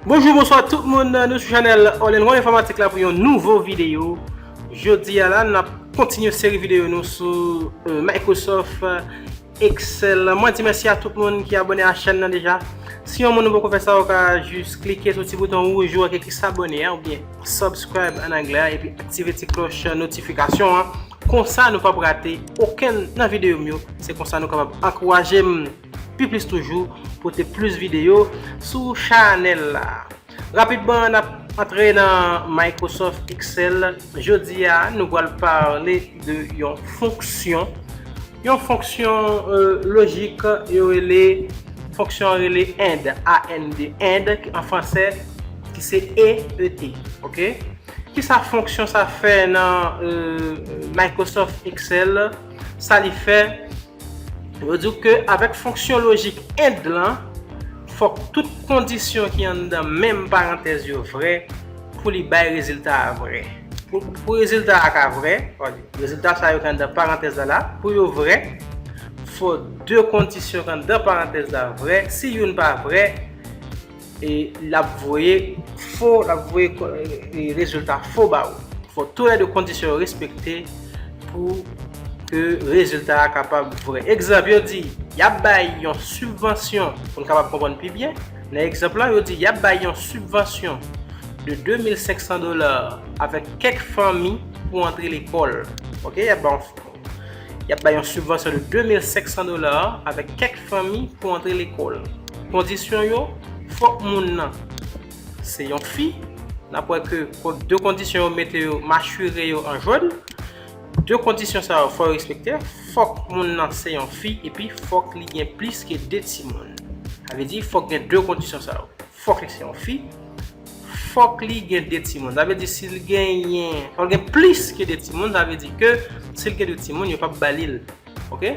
Bonjou bonswa tout moun nou sou chanel All in One Informatik la pou yon nouvo videyo Jodi a la nap kontinye seri videyo nou sou Microsoft Excellent. Mwen di mèsi a tout moun ki abone a chèn nan deja. Si yon moun nou poko fè sa ou ka jis klike sou ti bouton wouj ou an ki ekri s'abonner an oubyen subscribe an anglè an epi aktive ti klòch notifikasyon an konsa nou pap rate okenn nan videyo m yo se konsa nou kapab ankouraje m pi plis toujou pote plis videyo sou chanèl la. Rapidman nap antre nan Microsoft Excel, jodi a nou pral pale de yon fonksyon, yon fonksyon lojik yo rele fonksyon an rele and, A-N-D, and ki an fransè ki se e, e, t, ok. Kisa fonksyon sa fè nan Microsoft Excel, sa li fè Yo di w ke avèk fonksyon lojik and lan, fòk tout kondisyon ki anndan menm parantèz yo vrè pou li bay rezilta a vrè. Pou rezilta a ka vrè, rezilta sa yo ki anndan parantèz la la, pou yo vrè, fò de kondisyon ki anndan parantèz la vrè, si youn pa vrè, e lap voye fo lap voye rezilta fo ba ou fò tou lè 2 kondisyon yo respekte pou ke rezilta a kapab vrè egzanp yo di yap bay yon sibvansyon pou n kapab konprann pi byen nan egzanp lan yo di yap bay yon sibvansyon de 2500 dola avèk kèk fanmi pou antre lekòl ok yap bay yon. Y ap bay yon sibvansyon de 2500 dola avèk kèk fanmi pou antre lekòl. Kondisyon yo, fòk moun nan se yon fi, n ap wè ke 2 kondisyon yo mete yo machire yo an jòn, 2 kondisyon sa yo fò yo respekte, fòk moun nan se yon fi epi fòk li gen plis ke 2 timoun. Sa vle di fòk gen 2 kondisyon sa yo. Fòk li se yon fi. Fòk li gen 2 timoun. Sa vle di si li genyen, fòk li gen plis ke 2 timoun. Sa vle di ke si li gen 2 timoun, yo pap ba li l. Ok?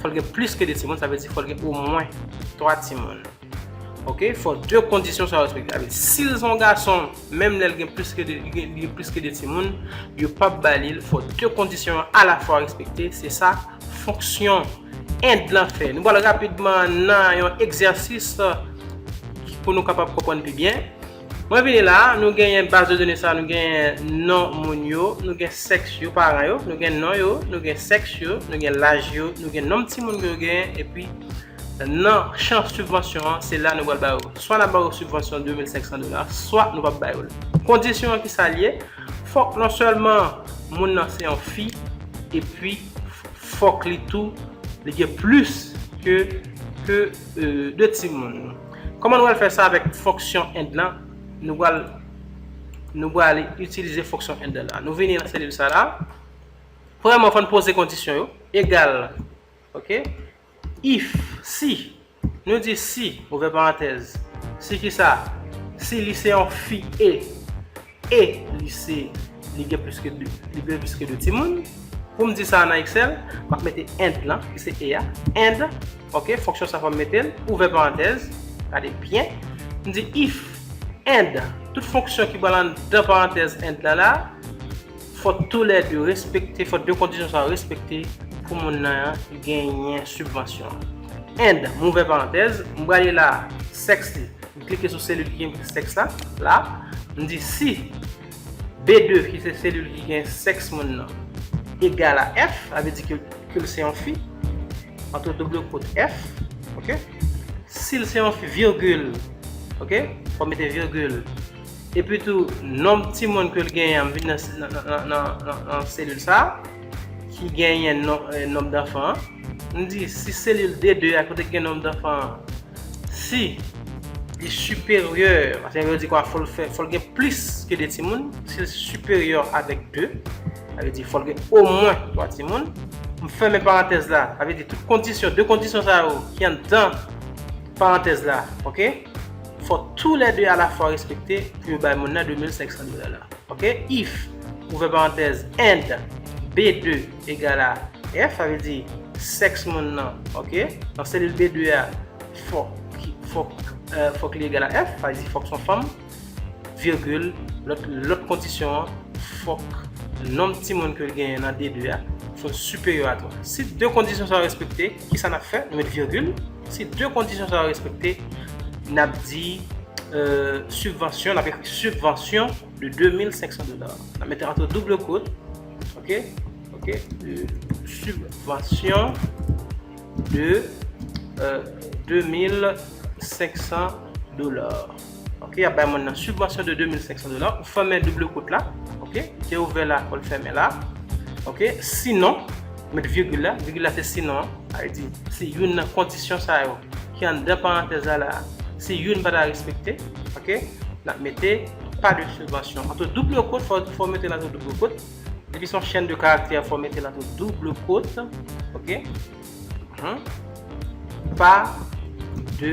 Fòk li gen plis ke 2 timoun. Sa vle di fòk li gen omwen 3 timoun. Ok? Fòk 2 kondisyon sa yo respekte. Sa vle di si li se yon gason. Menm lè l gen plis ke 2 gen gen plis ke 2 timoun, yo p ap ba li l, fò 2 kondisyon yo alafwa respekte, se sa fonksyon End lan fè. Nou pral rapidman nan yon egzèsis pou nou kapab konprann pi byen. Mwen vini la, nou genyen baz de done sa, nou genyen non moun yo, nou gen sèks yo, paran yo, nou gen non yo, nou gen sèks yo, nou gen laj yo, nou gen nonm timoun ke yo genyen, epi. Nan chan sibvansyon an, se la nou pral ba yo. Swa n ap ba yo sibvansyon 2500 dola, swa nou p ap ba yo l. Kondisyon an ki sa l ye, fòk non sèlman moun nan se yon fi epi fòk li tou li gen plis ke 2 timoun. Kòman nou pral fè sa avèk fonksyon and lan, nou pral nou pral itilize fonksyon and la. Nou vini nan selil sa la, premyèman fò n poze kondisyon yo, egal, ok, If, si. Nou di si, ouvè parantèz. Si kisa? Si li se yon fi e. E li se, li gen plis ke 2, li gen plis ke 2 timoun. Pou m di sa nan Excel, m ap mete and lan, ki se e a. And, ok, fonksyon sa fò m mete l, ouvè parantèz, gade byen. M di if and, tout fonksyon ki pral anndan parantèz and lan la, Fòk tou lè 2 respekte, fòk 2 kondisyon sa yo respekte pou moun nan an genyen sibvansyon an. And, m ouvè parantèz, m prale la a, sèks li, m klike sou selil ki gen mki sèks la, la, m di si B2 ki se selil ki gen sèks moun nan egal a F, sa vle di ke ke l se yon fi, antre double kot F, ok, si l se yon fi, virgil, ok, fòk mete virgil. Epi tou, nonb timoun ke l genyen an vin nan selil sa a, ki genyen nonb danfan an. M di, si selil D2 a kote ki gen nonb danfan an, si li siperyè, sa vle di kwa, fò l gen plis ke 2 timoun, si l siperyè avèk 2, sa vle di fò l gen omwen 3 timoun. M fèmen parantèz la, sa vle di tout kondisyon, 2 kondisyon sa yo ki anndan parantèz la, ok. fò tou lè 2 alafwa respekte pou yo bay moun nan 2500 dola la. Ok, if, ouvè parantèz, and, B2 egal a F, sa vle di, sèks moun nan, ok, nan selil B2 a, fòk, fòk, fòk li egal a F, sa vle di fòk son fanm, virgil, lòt, lòt kondisyon an, fòk nonb timoun ke l genyen nan D2 a, fò l siperyò a 3. Si 2 kondisyon sa yo respekte, kisa n ap fè? Nou met virgil. Si 2 kondisyon sa yo respekte, n ap di sibvansyon, n ap ekri sibvansyon de 2500 dola. N ap mete antre double kot, ok, ok, sibvansyon de 2500 dola. Ok yap bay moun nan subvansyon de 2500 dola pou fèmen double kont la ok li te ouvè la fòl fèmen la ok sinon met virgule la virgule la se sinon an sa vle di si youn nan kondisyon sa yo ki anndan parantèz la la si youn pa ta respekte ok nap mete pa de subvansyon anto double kont fòw mete la tou double kont depi son chèn de karaktè fòw mete la tou double kont ok pa de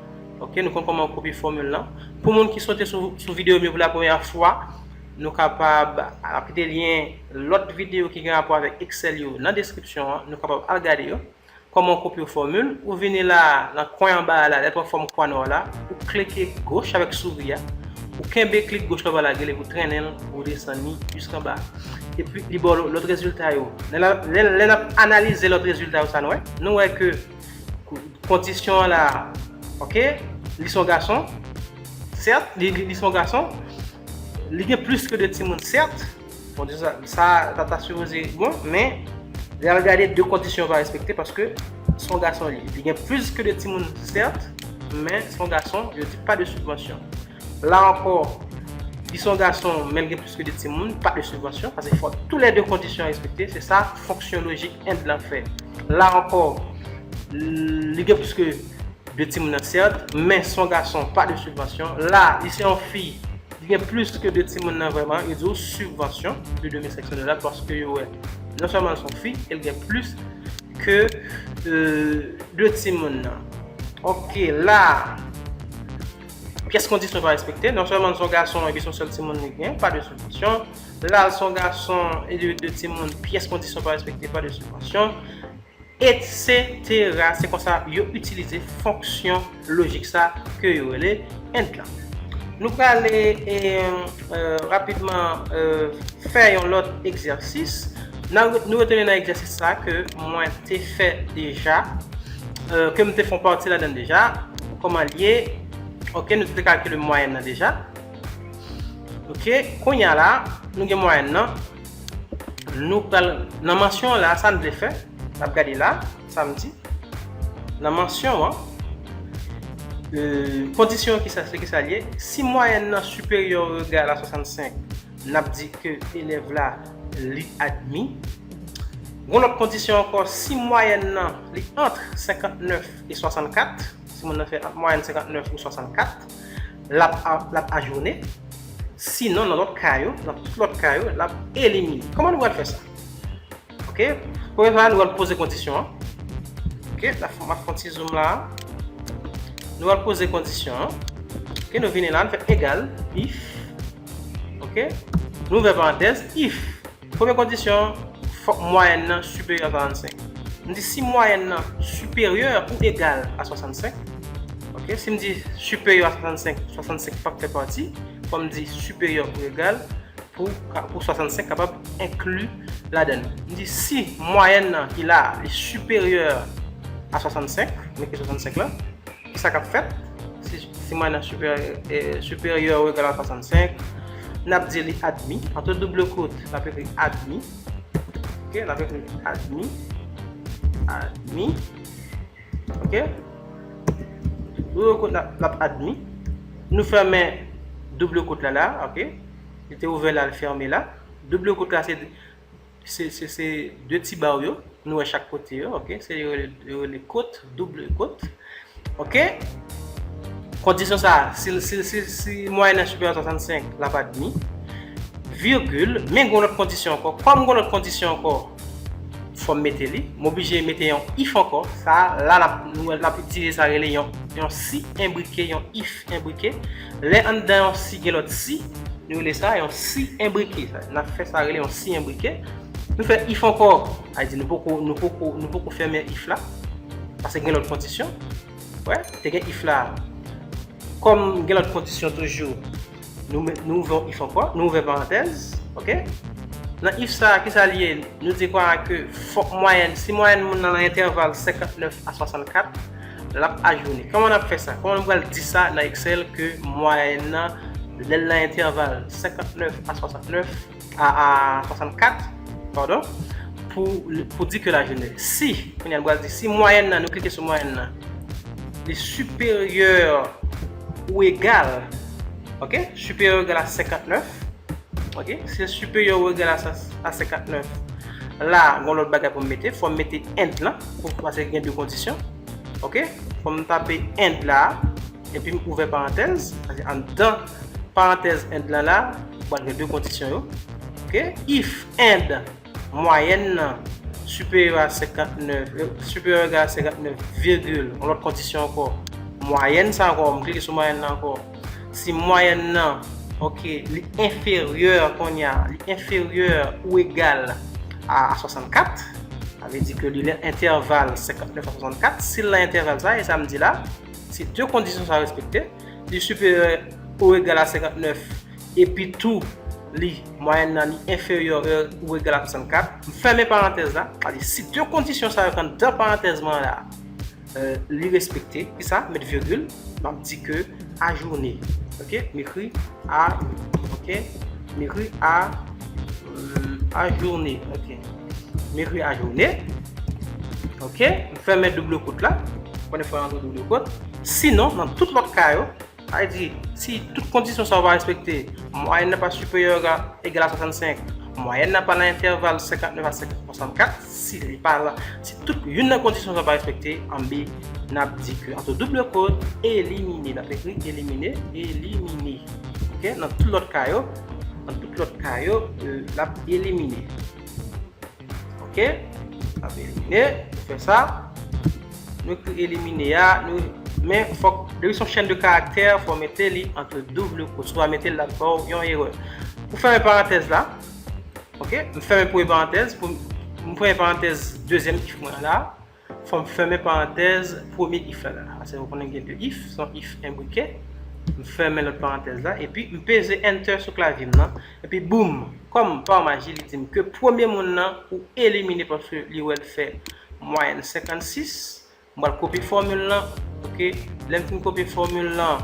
Ok nou konn kòman ou kopye fòmil lan. Pou moun ki sote sou videyo m yo pou la premyè fwa, nou kapab ap kite lyen lòt videyo ki gen rapò avèk Excel yo nan deskripsyon an, nou kapab al gade yo. Kòman ou kopye fòmil, ou vini la a, nan kwen anba a la, lèt wè fòm kwa nò la, ou klike goch avèk souri a, ou kenbe klik goch la vwala gel epi ou trennen l pou ou desann li jiskanba. Epi li ba w lòt rezilta yo. Lè n ap analize lòt rezilta yo sa n wè? Nou wè ke. Kondisyon an la ok li son gason sèt li son gason li gen plis ke 2 timoun sèt kondisyon sa ta ta sipoze bon men lè al gade 2 kondisyon pa respekte paske son gason li gen plis ke 2 timoun sèt men son gason yo di pa de sibvansyon La ankò, li se yon gason men li gen plis ke 2 timoun, pa de sibvansyon, pase fòk tou lè 2 kondisyon respekte, se sa fonksyon lojik end lan fè. La ankò, li gen plis ke 2 timoun nan sèt, men se yon gason, pa de sibvansyon. La, li se yon fi, li gen plis ke 2 timoun nan vrèman, yo di w sibvansyon de 2500 dola paske yo wè non sèlman li se yon fi e li gen plis ke 2 timoun nan. Ok, la. Pyès kondisyon pa respekte, non sèlman li son gason epi son sèl timoun li gen, pa de sibvansyon. La li son gason e li gen 2 timoun, pyès kondisyon pa respekte, pa de sibvansyon. Etsetera, se konsa yo itilize fonksyon lojik sa ke yo rele and lan. Nou prale rapidman fè yon lòt egzèsis. Nou retounen nan egzèsis sa ke mwen te fè deja. Ke m te fon pati ladan deja. Koman l ye. Ok nou te kalkile mwayèn nan deja. Ok kounya la nou gen mwayèn nan. Nou pral nan mansyon an la sa n vle fè. N ap gade la sa m di. Nan mansyon an. Kondisyon an kisa se kisa l ye. Si mwayèn nan siperyè ou egal a 65. N ap di ke elèv la li admi. Gon lòt kondisyon ankò, si mwayèn nan li antre 59 e 64, si moun nan fè ant mwayèn 59 ou 64, l ap l ap ajwone. Sinon, nan lòt ka yo, nan tout lòt ka yo, l ap elimine. Kòman nou pral fè sa? Ok, premye bagay nou pral poze kondisyon an. Ok, n ap fè, m ap fè yon ti zoom la. Nou pral poze kondisyon an. Ok, nou vini la, nou fè egal, if. Ok. Nou ouvè parantèz, if, premye kondisyon, fòk mwayèn nan siperyè a 45. M di si mwayèn nan siperyè ou egal a 65, ok, si m di siperyè a 65, 65 p ap fè pati, fò m di siperyè ou egal pou 65 kapab enkli ladan li. M di si mwayèn nan ki la a li siperyè a 65, m ekri 65 la. Ki sa k ap fèt si mwen nan Superior Regala 65? N ap di li admi. Antre double kot, n ap ekri admi. Ok, n ap ekri admi. Admi. Ok. Double kot la, l ap admi. Nou fèmen double kot la la. Ok. Li te ouvè la, li fèmen la. Double kot la se. Se se de ti baw yo nou wè chak kote yo ok se yo rele kot double kot ok kondisyon sa si si mwayen nan superior 65 lap admi virgule men gon lòt kondisyon ankò kòm gon lòt kondisyon ankò fòm mete li m oblije mete yon if ankò sa la lap nou wè lap itilize sa rele yon si enbrike yon if enbrike Lè anndan yon si gen lòt si, nou rele sa yon si enbrike. Nan fè sa rele yon si enbrike. Nou fè if ankò, sa vle di nou poko, nou poko, nou poko fèmen if la. Pase gen lòt kondisyon. Wè, te gen if la. Kòm gen lòt kondisyon toujou, nou met, nou ouvè yon if ankò, nou ouvè parantèz. Ok? Nan if sa a, ki sa li ye? Nou di kwa ke fòk mwayèn, si mwayèn moun nan nan entèval 59 a 64, lap ajoune. Kòman nap fè sa? Kòman nou pral di sa nan Excel ke mwayèn nan lèl nan entèval 59 a 69 a 64 pardon pou pou di ke lajoune si kounya nou pral di si mwayèn nan nou klike sou mwayèn nan li siperyè ou egal ok siperyè ou egal a 59 Ok, se superior regal a 59. La, gon lòt bagay pou m mete. Fò m mete and lan. Pou m pase gen 2 kondisyon. Ok, fò m tape and la. E pi m ouvè parantèz. Pase an dan parantèz and lan la. Ou pral gen 2 kondisyon yo. Ok, if and. Mwayèn nan siperyo a 59, siperyo oubyen egal a 59, virgil, yon lòt kondisyon ankò, mwayèn sa ankò, m klike sou mwayèn nan ankò, si mwayèn nan, ok, li enferyè kounye a, li enferyè ou egal a 64, sa vle di ke li nan entèval 59 a 64, si l nan entèval sa, e sa m di la, si 2 kondisyon sa respekte, li siperyo ou egal a 59, Epi tou, li, mwayèn nan li enferyè ou egal a 64. M fèmen parantèz la. Sa vle di, si 2 kondisyon sa yo k anndan parantèz mwen an la a, li respekte, ki sa? Met virgil, m ap di ke ajourne, ok, m ekri a, ok, m ekri a, ajourne, ok, m ekri ajourne, ok, m fèmen double kot la, m konnen fò yo antre double kot, sinon, nan tout lòt ka yo, Sa vle di, si tout kondisyon sa yo pa respekte, mwayèn nan pa siperyè oga egal a 65, mwayèn nan pa nan entèval 59 a 64, si li pa la, si tout youn nan kondisyon sa yo pa respekte, anbe n ap di ke antre double kwote, elimine, n ap ekri elimine, elimine, ok, nan tout lòt ka yo, nan tout lòt ka yo, l ap elimine. Ok, nap elimine, nou fè sa. Nou ekri elimine a, nou, men fòk, depi son chèn de karaktè, fò mete li antre double kwo, sou pa mete l lap baw yon erè. Ou fèmen parantèz la, ok, m fèmen premye parantèz, m fèmen parantèz dezyèm chif mwen an la. Fò m fèmen parantèz premye if la la. Pase ou konnen gen de if, se yon if enbrike. M fèmen lòt parantèz la, epi m peze Enter sou klavye m nan. Epi boum! Kòm pa maji li di m ke premye moun nan ou elimine paske li wè l fè mwayèn 56. M pral kopye fòmil lan. Ok, lè m fin kopye fòmil lan,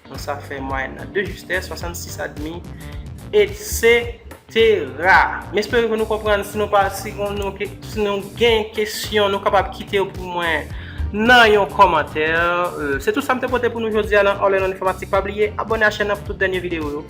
Donk sa fè mwayèn nan 2 justès, 66 admi, etsetera. M espere ke nou konprann. Si nou pa, si nou gen kesyon, nou kapab kite yo pou mwen nan yon kòmantè. Se tout sa m te pote pou nou jodi a nan All in One Informatik. Pa bliye abòne a chèn nan pou tout dènye videyo yo.